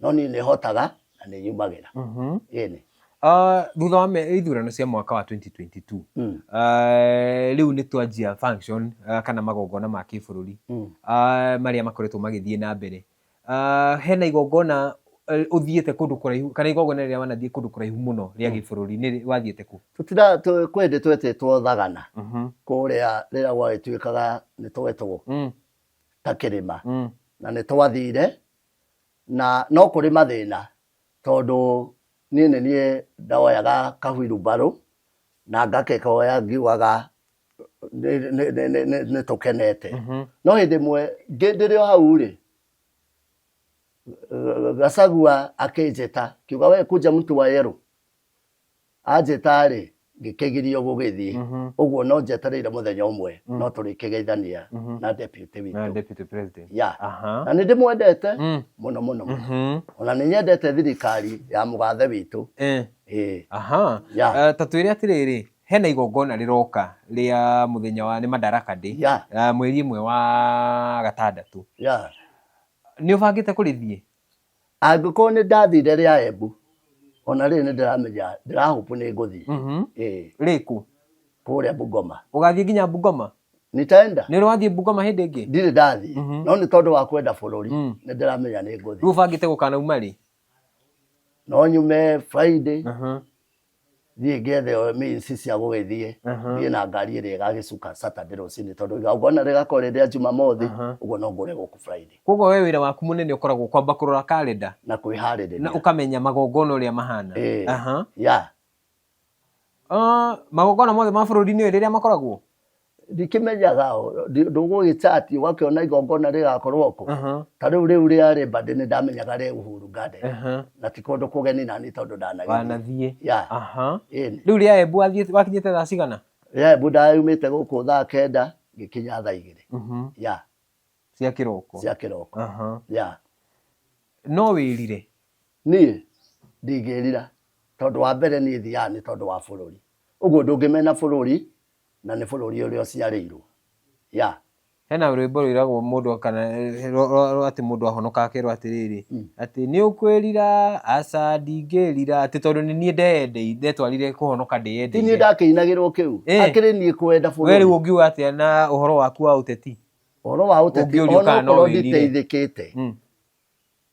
No niĩ nĩ hotaga na nĩ nyumagĩra. Mhm. Ĩnĩ. Ah, thutha wa me- ithurano cia mwaka wa 2022 Mm. ah, rĩu nĩ twanjia function ah, kana magongona ma kĩbũrũri Mm. ah, marĩa makoretwo magĩthiĩ na mbere Ah, hena igongona eh, ũthiĩte kũndũ kũraihu kana igongona rĩrĩa wanathiĩ kũndũ kũraihu mũno rĩa gĩbũrũri nĩ rĩ- wathiĩte kũ Tũtira tũ- kwĩ hĩndĩ twetĩtwo thagana Mhm. kũrĩa rĩrĩa gwagĩtuĩkaga nĩ twetwo Mm, ta kĩrĩma mm, na nĩ twathire na no kũrĩ mathĩna tondũ niĩ nĩ niĩ ndoyaga kahuirumbarũ na ngakekoya ngiugaga nĩ- nĩ- nĩ- nĩ- nĩ- nĩ tũkenete Mhm. no hĩndĩ ĩmwe ngĩ- ndĩrĩ o hau rĩ gacagua akĩnjĩta kiuga we kunja mtu wa yerũ Anjĩta-rĩ, ngĩkĩgiria gũgĩthiĩ. Ũguo no njetereire mũthenya ũmwe no tũrĩkĩgeithania na deputy witũ. Na deputy president. Yeah. Aha. Na nĩ ndĩmwendete mũno mũno mũno. Ona nĩ nyendete thirikari ya mũgathe witũ. Eh. Ĩĩ. Aha. Yeah. Eh, Ta twĩre atĩrĩrĩ, hena igongona rĩroka rĩa mũthenya wa nĩ Madaraka Day. Yeah. eh, Mweri ĩmwe wa gatandatũ. Yeah. Nĩ ũbangĩte kũrĩthiĩ? angĩkorwo nĩ ndathire rĩa embu ona rĩrĩ nĩ ndĩramenya ndĩrahũpu nĩ ngũthiĩ Mhm. Eh, rĩku kũrĩa bungoma ũgathiĩ nginya bungoma nitaenda nĩ ũrathiĩ bungoma hĩndĩ ĩngĩ ndirĩ ndathiĩ Mhm. no nĩ tondũ wa kwenda bũrũri Mm. nĩ ndĩramenya nĩ rĩu ngũthiĩ ũbangĩte gũkanauma rĩ no nyume friday Mhm. thiĩ ngethe o minsi cia gũgĩthiĩ Aha. thiĩ na ngari ĩrĩa ĩgagĩcuka saturday rũcinĩ tondũ igongona rĩgakorwo rĩ rĩa jumamothi Aha. ũguo no ngũre gũkũ friday koguo we wĩra waku mũnene ũkoragwo kwamba kũrora karenda na na kwĩharĩrĩria ũkamenya magongona ũrĩa mahana Ĩĩ. Aha. ya Ah, magongona mothe ma bũrũri-inĩ ũyũ rĩrĩa makoragwo ndikĩmenyaga o, ndi- ndũgũgĩta atĩ ũgakĩona igongona rĩgakorwo kuo Aha, ta rĩu rĩu rĩarĩ mbandĩ nĩ ndamenyaga rĩ uhuru garden aha. na ti kũndũ kũgeni nani tondũ ndanagĩthiĩ wanathiĩ ya aha ĩni rĩu rĩa embu wathiĩ- wakinyĩte thaa cigana ya mbu ndayumĩte gũkũ thaa kenda ngĩkinya thaa igĩrĩ Mhm, ya cia kĩroko cia kĩroko Aha. ya no wĩrire niĩ ndingĩrira tondũ wa mbere niĩ thiaga nĩ tondũ wa bũrũri ũguo ndũngĩmena bũrũri Na nĩ bũrũri ũrĩa ũciarĩirwo. Yeah. Hena rwĩmbo rwĩragwo mũndũ kana eh, rwa- rwa- rwa- atĩ mũndũ ahonoka akerwo atĩrĩrĩ atĩ nĩ ũkwĩrira aca ndingĩrira atĩ tondũ nĩ niĩ ndeyendei ndetwarire kũhonoka Ti niĩ ndĩyendeire ndakĩinagĩrwo kĩu. Eh. Akĩrĩ niĩ kwenda we rĩu bũrũri. ũngiuga atĩa na ũhoro waku wa ũteti Ũhoro wa ũteti, Ũngĩũrio ona kana no okorwo wĩrire. nditeithĩkĩte, Mm.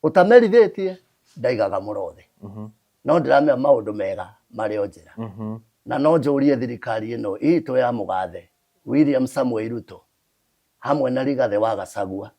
ũtamerithĩtie ndaigaga mũrothe mhm. no ndĩramenya maũndũ mega marĩ o njĩra mhm. na no njũrie thirikari ĩno itũ ya mũgathe William Samuel Ruto hamwe na Rigathĩ wa Gacagua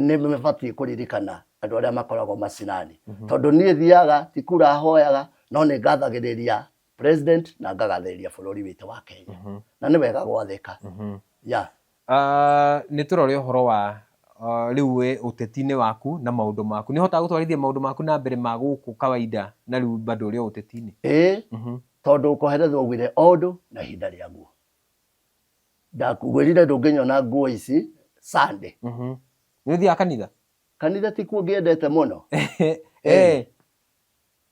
nĩ mabatiĩ kũririkana andũ arĩa makoragwo macinani mhm. tondũ niĩ thiaga tikura hoyaga no nĩ ngathagĩrĩria president na ngagathĩrĩria bũrũri witũ wa Kenya Mhm. na nĩ wega gwathĩka Mhm. ya Ah, nĩ tũrore ũhoro wa ah, rĩu we ũteti-inĩ waku na maũndũ maku nĩ hotaga gũtwarithia maũndũ maku na mbere ma gũkũ kawaida na rĩu bado ũrĩ o ũteti-inĩ ĩĩ Mhm. tondũ kũherethwo gwire o ũndũ na ihinda rĩaguo ndakugwĩrire ndũngĩnyona nguo ici sande Mhm. nĩ ũthiaga kanitha kanitha ti kuo ngĩendete mũno Eh,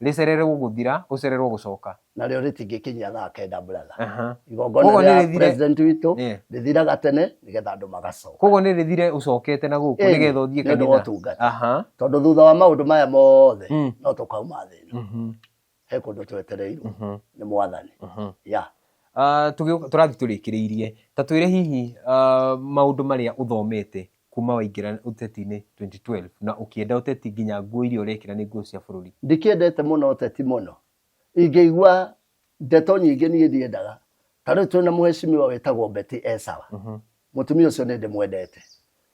Rĩcererwo gũthira, ũcererwo gũcoka. Narĩo rĩtingĩkinyia thaa kenda brother. Aha. Igongona Koguo rĩa nĩrĩthire- president witũ Yeah. rĩthiraga tene nĩgetha andũ magacoka. Koguo nĩ rĩthire ũcokete na gũkũ Ĩni, nĩgetha ũthiĩ nĩ ũndũ wa kanitha. ũtungata. Aha. Tondũ thutha wa maũndũ maya mothe Mm. no tũkauma thĩ ĩno. Mhm. He kũndũ twetereirwo Mhm. nĩ mwathani. Mhm. Ya. Ah, tũgĩ- tũrathiĩ tũrĩkĩrĩirie ta twĩre hihi ah, maũndũ marĩa ũthomete Kuuma waingĩra ũteti-inĩ 2012 na ũkĩenda ũteti nginya nguo iria ũrekĩra nĩ nguo cia bũrũri. Ndikĩendete mũno ũteti mũno. Ingĩigua ndeto nyingĩ niĩ ndiendaga. Ta rĩu twĩ na mũheshimiwa wĩtagwo Betty e sawa. Mhm. Mũtumia ũcio nĩ ndĩmwendete.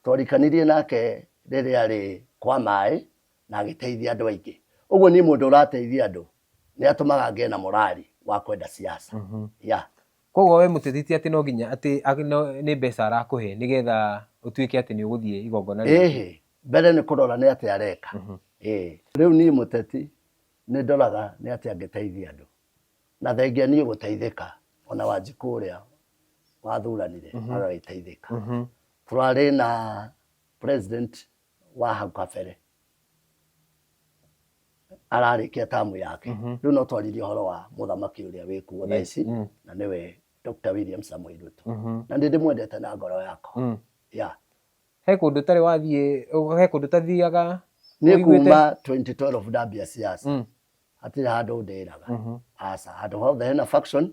Twarikanirie nake rĩrĩa arĩ kwa maĩ na agĩteithia andũ aingĩ. Ũguo niĩ mũndũ ũrateithia andũ nĩ atũmaga ngĩe na morali wa kwenda siasa. Mhm. Yeah. Koguo we mũteti ti atĩ no nginya atĩ a- no- nĩ mbeca arakũhe nĩgetha ũtuĩke atĩ nĩ ũgũthiĩ igongona rĩu. ĩhĩ mbere nĩ kũrora nĩ atĩa areka Mhm. Ĩĩ. rĩu niĩ mũteti nĩ ndoraga nĩ atĩa angĩteithia andũ na thengia niĩ gũteithĩka ona wanjikũ ũrĩa wathuranire agagĩteithĩka Mhm. tũrarĩ na president wa hau kabere ararĩkia tamu yake Mhm. rĩu no twarĩrie ũhoro wa mũthamaki ũrĩa wĩ kuo thaa ici Mm. na nĩwe Dr. William Samuel Ruto Mhm. na nĩ ndĩmwendete na ngoro yakwa Mm. ya he kũndũ ũtarĩ wathiĩ ũ- he kũndũ ũtathiaga nĩ ũiguĩte? kuma 2012 ndambia siasa Mm. hatirĩ handũ ndĩraga Mhm. aca handũ hothe hena faction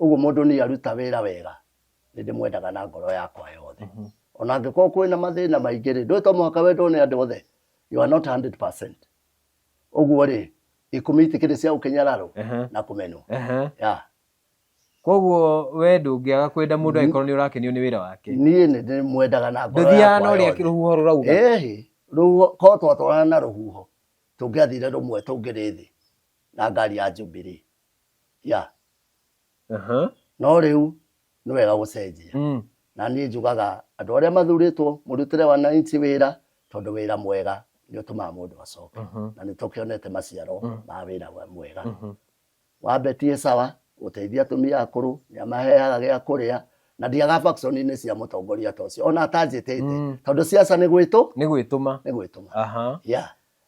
ũguo mũndũ nĩ aruta wĩra wega nĩ ndĩmwendaga na ngoro yakwa yothe Mhm. ona angĩkorwo kwĩna mathĩna maingĩ rĩ ndũĩ to mũhaka wendwo nĩ andũ othe you are not 100 ũguo rĩ ikũmi itikĩrĩ cia gũkĩnyararwo Ehe. na kũmenwo Ehe. ya koguo we ndũngĩaga kwenda mũndũ angĩkorwo nĩ ũrakenio nĩ wĩra wake niĩ nĩ ndĩmwendaga na ngoro ndũthiaga yakwa na ũrĩa yothe rũhuho rũrauga ĩhĩ rũhuho korwo twatwarana na rũhuho tũngĩathire rũmwe tũngĩrĩ thĩ na ngari ya njubirĩ ya Aha. no rĩu nĩ wega gũcenjia Mm. na niĩ njugaga andũ arĩa mathurĩtwo mũrutĩre wananchi wĩra tondũ wĩra mwega nĩ ũtũmaga mũndũ acoke Mhm. na nĩ tũkĩonete maciaro Mm. ma wĩra wa- mwega Mhm. wambetie sawa gũteithia atumia akũrũ nĩ amaheaga gĩa kũrĩa na ndiaga faction-inĩ cia mũtongoria ta ũcio ona atanjĩtĩte Mm. tondũ ciaca nĩ gwĩtũ nĩ gwĩtũma nĩ gwĩtũma aha ya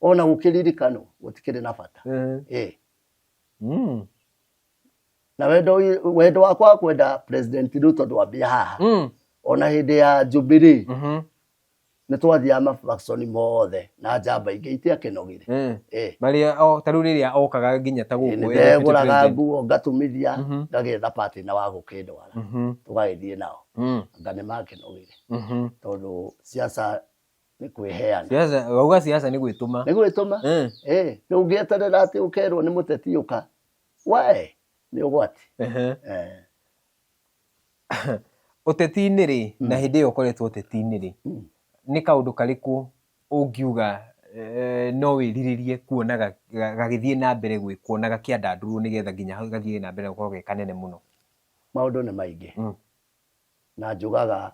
ona gũkĩririkanwo gũtikĩrĩ na bata Eh. eh. Mm. na wendo ũyũ- wendo wakwa wa kwenda president ruto ndwambia haha Mm. ona hĩndĩ ya jubilee Mhm. nĩ twathiaga mabakconi mothe na njamba ingĩ itiakĩnogire Eh. eh. marĩa o- ta rĩu rĩrĩa okaga nginya ta gũkũ nĩ eh, deputy ndegũraga president. nguo ngatumithia Mhm. ngagetha pati na wa gũkĩndwara Mhm. tũgagĩthiĩ nao Mm. anga nĩ makĩnogire Mhm. tondũ ciaca nĩ kwĩheana siasa wauga siasa nĩ gwĩtũma nĩ gwĩtũma Eh, Eh, nĩ ũngĩeterera atĩ ũkerwo nĩ mũteti ũka wae nĩ ũgwati ehe. Eh, ũteti-inĩ rĩ na hĩndĩ ĩyo ũkoretwo ũteti-inĩ rĩ Mm. nĩ kaũndũ karĩkũ ũngiuga eh, no wĩrirĩrie kuona ga- ga- gagĩthiĩ na mbere gwĩkwo na gakĩandandũrwo nĩgetha nginya hau gathiĩ na mbere gũkorwo ge kanene mũno maũndũ nĩ maingĩ Mm. na njugaga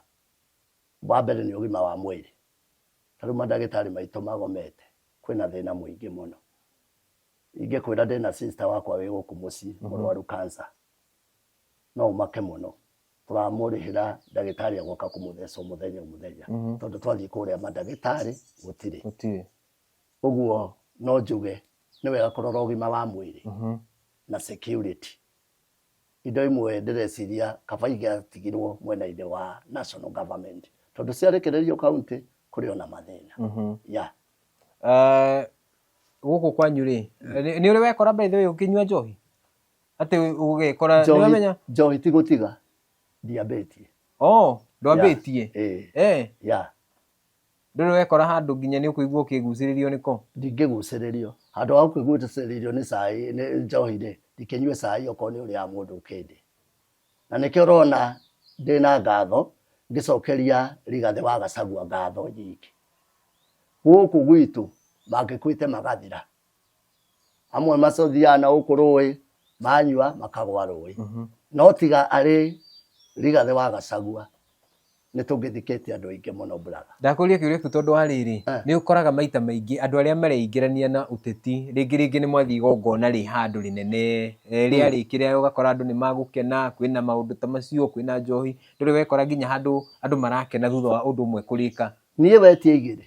Wa mbere nĩ ũgima wa mwĩrĩ, ta rĩu mandagĩtarĩ maitũ magomete, kwĩna thĩna mũingĩ mũno. Ingĩkwĩra ndĩna sister wakwa wĩ gũkũ mũciĩ mhm. mũrwaru cancer, no ũmake mũno tũramũrĩhĩra ndagĩtarĩ agoka kũmũtheca mũthenya mũthenya mhm. tondũ twathiĩ kũrĩa mandagĩtarĩ gũtirĩ ũguo no njuge nĩ wega kũrora ũgima wa mwĩrĩ mhm. na security Indo imwe ndĩreciria kaba ingĩatigirwo mwena-inĩ wa national government tondũ ciarekererio kauntĩ kũrĩ ona mathĩna mhm. ya ah, gũkũ kwanyu rĩ nĩ ũrĩ wekora by the way ũkĩnyua njohi atĩ ũgekora nĩwamenya njohi ti gũtiga ndiambĩtie oh ndwambĩtie eh eh ya Ndũrĩ wekora handũ nginya nĩ ũkũigua ũkĩgucĩrĩrio nĩko? Ndingĩgucĩrĩrio. Handũ ha kũigucĩrĩrio nĩ cai, nĩ njohi-rĩ, ndikĩnyue cai okorwo nĩ ũrĩa mũndũ ũkĩndĩ. Na nĩkĩo ũrona ndĩ na ngatho ngĩcokeria Rigathĩ wa Gacagua ngatho nyingĩ. Gũkũ gwitũ mangĩkuĩte magathira. amwe macothiaga na gũkũ rũĩ manyua makagwa rũĩ no tiga arĩ rigathĩ wa gacagua nĩ tũngĩthikĩtie andũ aingĩ mũno brother ndakũria kĩũria kĩu tondũ wa rĩrĩ Eh. nĩ ũkoraga maita maingĩ andũ arĩa mareingĩrania na ũteti rĩngĩ rĩngĩ nĩ mwathiĩ igongona rĩ handũ rĩnene eh, rĩarĩkĩrĩa ũgakora andũ nĩ magũkena kwĩna maũndũ ta macio kwĩna njohi ndũrĩ wekora nginya handũ andũ marakena thutha wa ũndũ ũmwe kũrĩka niĩ wetie igĩrĩ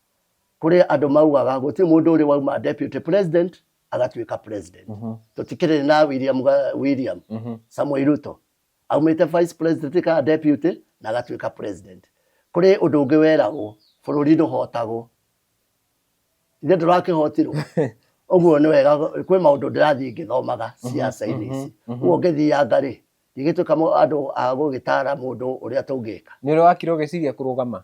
kuri andu maugaga guti mundu uri wauma deputy president agatuika president Mhm. tutikiri na William ga- William Mhm. Samuel Ruto aumite vice president ka deputy na agatuika president kuri undu ungi weragwo bururi nduhotagwo ithe ndurakihotirwo uguo ni wega kwi maundu ndirathii ngithomaga ciaca-ini ici mhm. uguo ngithianga ri ndigituika andu a gugitara mundu uria tungika nä å rä wakire å gä ciria kå rå gama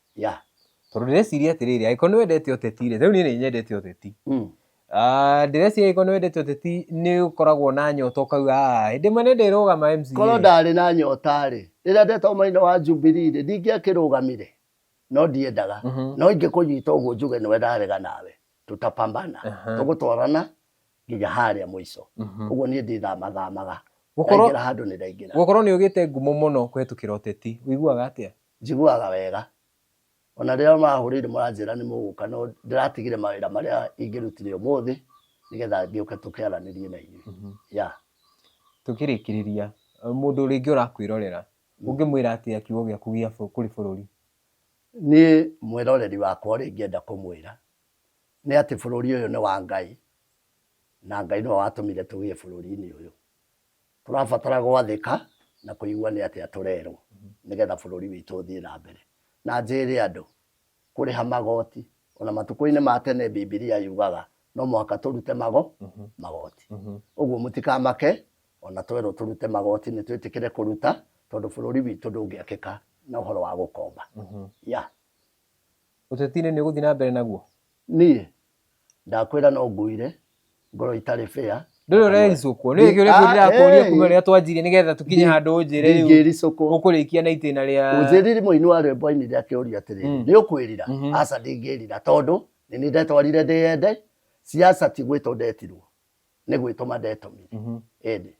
Yeah. Tondũ ndĩreciria atĩrĩrĩ, angĩkorwo nĩ wendete ũteti rĩ, rĩu niĩ nĩ nyendete ũteti. Mm. Ah, ndĩreciria angĩkorwo nĩ wendete ũteti nĩ ũkoragwo na nyota ũkauga "Ah, hĩndĩ ĩmwe nĩ ndĩrũgama MCA. Korwo ndarĩ na nyota rĩ, rĩrĩa ndetagwo mũnene wa Jubilee rĩ, ndingĩakĩrũgamire. No ndiendaga. Mhm. No ingĩkũnyita ũguo njuge nĩwe ndarega nawe. Tutapambana. Aha. Tũgũtwarana nginya harĩa mũico. Mhm. Ũguo niĩ ndĩthamathamaga. Gũkorwo- Ndaingĩra handũ nĩ ndaingĩra. Gũkorwo nĩ ũgĩte ngumo mũno kũhetũkĩra ũteti, ũiguaga atĩa? Njiguaga wega. O na rĩrĩa marahũrĩire maranjĩra nĩ mũgũka no ndĩratigire mawĩra marĩa ingĩrutire ũmũthĩ nĩgetha ngĩũke tũkĩaranĩrie na inyuĩ. Mhm. Yeah. Tũkĩrĩkĩrĩria, mũndũ rĩngĩ ũrakwĩrorera, mm. ũngĩmwĩra atĩa kiugo gĩaku gĩa kũrĩ bũrũri? Niĩ mwĩroreri wakwa ũrĩa ingĩenda kũmwĩra nĩ atĩ bũrũri ũyũ nĩ wa Ngai na Ngai nĩwe watũmire tũgĩe bũrũri-inĩ ũyũ. Tũrabatara gwathĩka na kũigua nĩ atĩa tũrerwo nĩgetha bũrũri witũ ũthiĩ na mbere. Na njĩĩre andũ, kũrĩha magoti, o na matukũ-inĩ ma tene Bibilia yugaga no mũhaka tũrute mago, magoti. Ũguo mũtikamake o na twerwo tũrute magoti nĩ twĩtĩkĩre kũruta tondũ bũrũri witũ ndũngĩakĩka na ũhoro wa gũkomba. Yeah. Ũteti-inĩ nĩ ũgũthiĩ na mbere naguo? Niĩ? Ndakwĩra no ngũire, ngoro itarĩ fair. Ndũrĩ ũrericũkwo. Nĩ ũrĩ kĩũria ndĩrakũria ah, kuma rĩrĩa twanjirie nĩgetha tũkinye handũ ũnjĩre rĩu. Ndingĩricũkwo. Ũkũrĩkia na itĩna rĩa. Ũnjĩriri mũini wa rwĩmbo ainire akĩũria atĩrĩ, mm. nĩ ũkwĩrira? Mm-hmm. Aca ndingĩrira tondũ nĩ nĩ ndetwarire ndĩyende, ciaca ti gwĩtwo ndetirwo, nĩ gwĩtũma ndetomire. Ĩndĩ. Mm-hmm.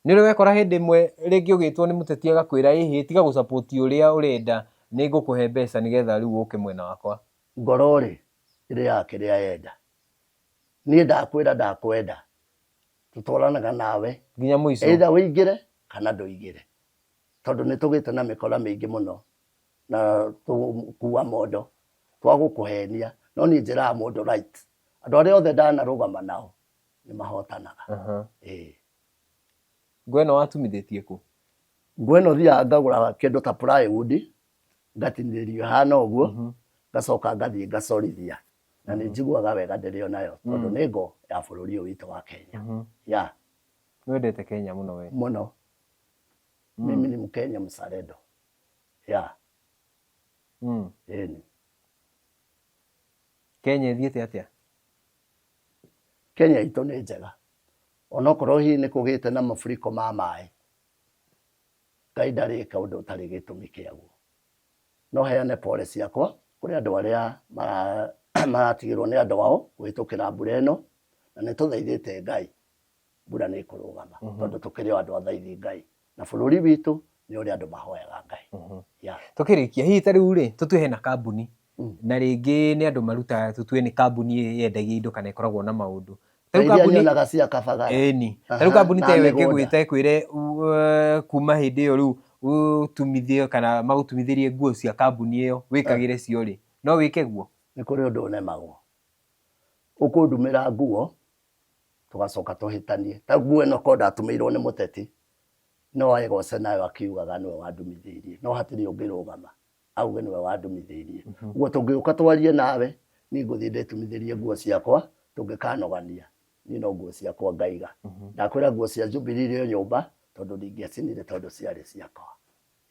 Nĩ ũrĩ wekora hĩndĩ ĩmwe rĩngĩ ũgĩtwo nĩ mũteti agakwĩra ĩ hĩ tiga gũ support ũrĩa ũrenda nĩ ngũkũhe mbeca nĩ getha rĩu ũke mwena wakwa? Ngoro rĩ, ĩrĩaga kĩrĩa yenda. Niĩ ndakwĩra ndakwenda, tũtwaranaga nawe. Nginya mũico. Either ũingĩre kana ndũingĩre. Tondũ nĩ tũgĩte na mĩkora mĩingĩ mũno na tũgũkua mondo twa gũkũhenia. No niĩ njĩraga mũndũ right. Andũ arĩa othe ndanarũgama nao. nĩ mahotanaga Aha. Ĩĩ. ngo ĩno watumithĩtie kũ ngo ĩno thiaga ngagũra kĩndũ ta plywood ngatinĩrĩrio hana ũguo ngacoka ngathiĩ ngacorithia na nĩ njiguaga wega ndĩrĩ o nayo tondũ nĩ ngo ya bũrũri ũyũ witũ wa kenya ya nĩ wendete kenya mũno we mũno mimi ni mkenya mzalendo ya Mm. ĩni kenya ĩthiĩte atĩa Kenya itũ nĩ njega onokorwo hihi nĩ kũgĩte na maburiko ma maĩ ngai ndarĩ ĩka ũndũ ũtarĩ gĩtũmi kĩaguo no heane pole ciakwa kũrĩ andũ arĩa mara- maratigĩrwo nĩ andũ ao kũhĩtũkĩra mbura ĩno na nĩ tũthaithĩte ngai mbura nĩ ĩkũrũgama tondũ tũkĩrĩ o andũ athaithi ngai na bũrũri witũ nĩ ũrĩa andũ mahoyaga ngai mhm. tũkĩrĩkia hihi ta rĩu rĩ tũtue hena kambuni mm. na rĩngĩ nĩ andũ marutaga tũtue nĩ kambuni yendagia indo kana ĩkoragwo na maũndũ tarĩu kambuni ta ĩyo ĩkĩgwĩte kwĩre kuma hĩndĩ ĩyo rĩu ũtumithio kana magũtumithĩrie nguo cia kambuni ĩyo wĩkagĩre eh. cio rĩ no wĩke guo nĩ kũrĩ ũndũ ũnemagwo ũkũndumĩra nguo tũgacoka tũhĩtanie ta nguo ĩno ko ndatũmĩirwo nĩ mũteti no aĩgoce nayo akiugaga nĩwe wandumithĩirie no hatirĩ ũngĩrũgama auge nĩwe wandumithĩirie mhm. ũguo tũngĩũka twarie nawe niĩ ngũthiĩ ndĩtumithĩrie nguo ciakwa tũngĩkanogania niĩ no nguo ciakwa ngaiga mhm. ndakwĩra nguo cia jubilee ĩyo nyũmba tondũ ndingĩacinire tondũ ciarĩ ciakwa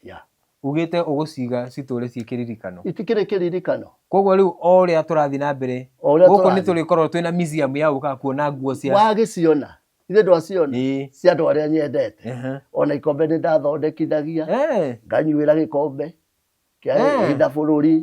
Yeah. Ugĩte ũgũciga citũũre ciĩ kĩririkano. Itikĩrĩ kĩririkano. Koguo rĩu o ũrĩa tũrathiĩ na mbere, O ũrĩa gũkũ nĩ tũrathiĩ. tũrĩkorwo twĩna museum ya gũka kuona nguo cia... Wagĩciona. Ithe ndwaciona. Ĩĩ. Cia andũ arĩa nyendete. Ehe. Ona ikombe nĩ ndathondekithagia. Eh. Nganyuĩra gĩkombe. Kĩa Eh. hitha bũrũri.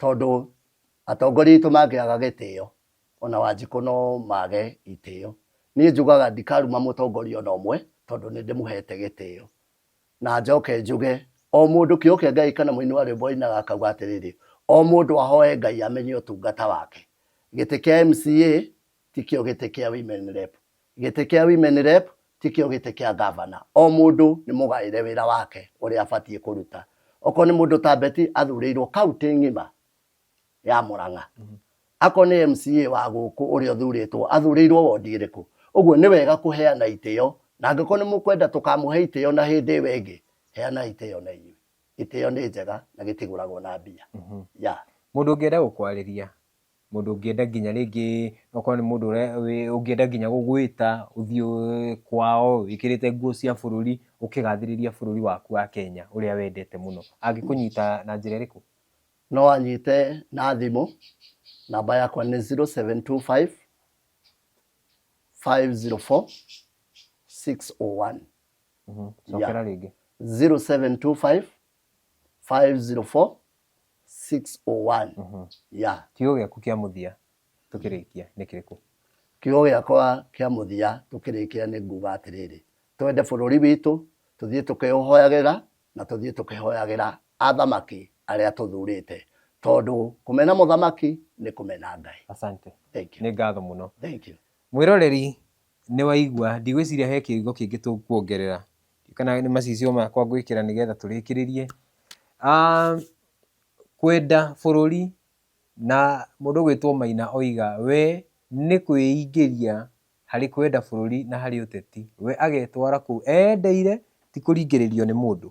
tondũ atongoria aitũ mangĩaga gĩtĩo ona wanjikũ no mage itĩo niĩ njugaga ndikaruma mũtongoria ona ũmwe tondũ nĩ ndĩmũhete gĩtĩo na njoke njuge o mũndũ kĩoke ngai kana mũini wa rwĩmbo ainaga akauga atĩrĩrĩ o mũndũ ahoe ngai amenye ũtungata wake gĩtĩ kĩa mca tikĩo gĩtĩ kĩa women rep Gĩtĩ kĩa women rep tikĩo gĩtĩ kĩa ngavana. O mũndũ nĩ mũgaĩre wĩra wake ũrĩa abatiĩ kũruta. Okorwo nĩ mũndũ ta Betty athurĩirwo kaũntĩ ng'ima ya Mũrang'a. Akorwo nĩ MCA wa gũkũ ũrĩa ũthurĩtwo athurĩirwo wondi ĩrĩkũ. Ũguo nĩ wega kũheana itĩo na angĩkorwo nĩ mũkwenda tũkamũhe itĩo na hĩndĩ ĩyo ĩngĩ, heanai itĩo na inyuĩ. Itĩo nĩ njega na gĩtigũragwo na mbia. Yeah. Mũndũ ũngĩenda gũkwarĩria Mũndũ ũngĩenda nginya rĩngĩ okorwo nĩ mũndũ ũngĩenda nginya gũgwĩta ũthiĩ kwao wĩkĩrĩte nguo cia bũrũri ũkĩgathĩrĩria bũrũri waku wa Kenya ũrĩa wendete mũno. Angĩkũnyita na njĩra ĩrĩkũ? No anyite na thimũ, namba yakwa nĩ 0725504601. Cokera rĩngĩ. 0725504601. 601 Mhm. ya kiugo gĩaku kĩa mũthia tũkĩrĩkia nĩ kĩrĩkũ kiugo gĩakwa kĩa mũthia tũkĩrĩkĩra nĩ nguga atĩrĩrĩ twende bũrũri witũ tũthiĩ tũkĩũhoyagĩra na tũthiĩ tũkĩhoyagĩra athamaki arĩa tũthurĩte tondũ kũmena mũthamaki nĩ kũmena ngai asante Thank you. nĩ ngatho mũno Thank you. mwĩroreri nĩ waigua ndigwĩciria he kĩrigo kĩngĩ tũkuongerera kana nĩ macicio makwa ngwĩkĩra nĩgetha tũrĩkĩrĩrie. Kwenda bũrũri na mũndũ ũgwĩtwo Maina oiga we nĩ kwĩingĩria harĩ kwenda bũrũri na harĩ ũteti, we agetwara kũu endeire ti kũringĩrĩrio nĩ mũndũ.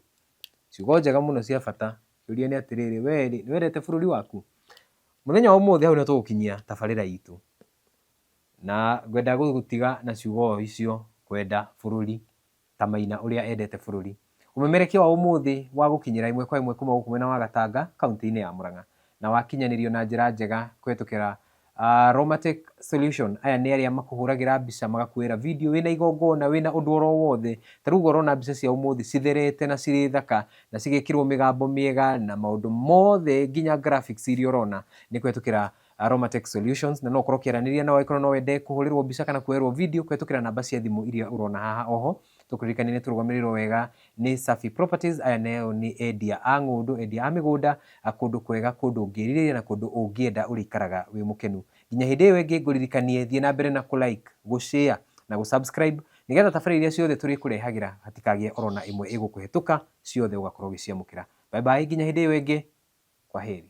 Ciugo njega mũno cia bata, kĩũria nĩ atĩrĩrĩ, we rĩ nĩ wendete bũrũri waku? Mũthenya wa ũmũthĩ hau nĩ tũgũkinyia tabarĩra itũ, na ngwenda gũgũtiga na ciugo o icio, kwenda bũrũri. ta Maina ũrĩa endete bũrũri. Ũmemerekia wa ũmũthĩ wa gũkinyĩra ĩmwe kwa ĩmwe kuma gũkũ mwena wa Gatanga kauntĩ-inĩ ya Mũrang'a na wakinyanĩrio na njĩra njega kũhetũkĩra Romatech Solution. Aya nĩ arĩa makũhũragĩra mbica magakuoera video wĩna igongona, wĩna ũndũ oro wothe. Ta rĩu ũrona mbica cia ũmũthĩ citherete na cirĩ thaka na cigekĩrwo mĩgambo mĩega na maũndũ mothe nginya graphics iria ũrona nĩ kũhetũkĩra Aromatech Solutions, na no ũkorwo ũkĩaranĩria nao angĩkorwo no wende kũhũrĩrwo mbica kana kuoerwo video kũhetũkĩra namba cia thimũ iria ũrona haha oho. Tũkũririkanie nĩ tũrũgamĩrĩirwo wega nĩ Safi Properties, aya nao nĩ endia a ng'ũndũ, endia a mĩgũnda, kũndũ kwega, kũndũ ũngĩrirĩria na kũndũ ũngĩenda ũrĩikaraga wĩ mũkenu. Nginya hĩndĩ ĩyo ĩngĩ ngũririkanie thiĩ na mbere na kũ like, gũ share na gũ subscribe nĩgetha tabarĩra iria ciothe tũrĩkũrehagĩra hatikagĩe oro na ĩmwe ĩgũkũhetũka, ciothe ũgakorwo ũgĩciamũkĩra. Bye bye nginya hĩndĩ ĩyo ĩngĩ, kwaheri.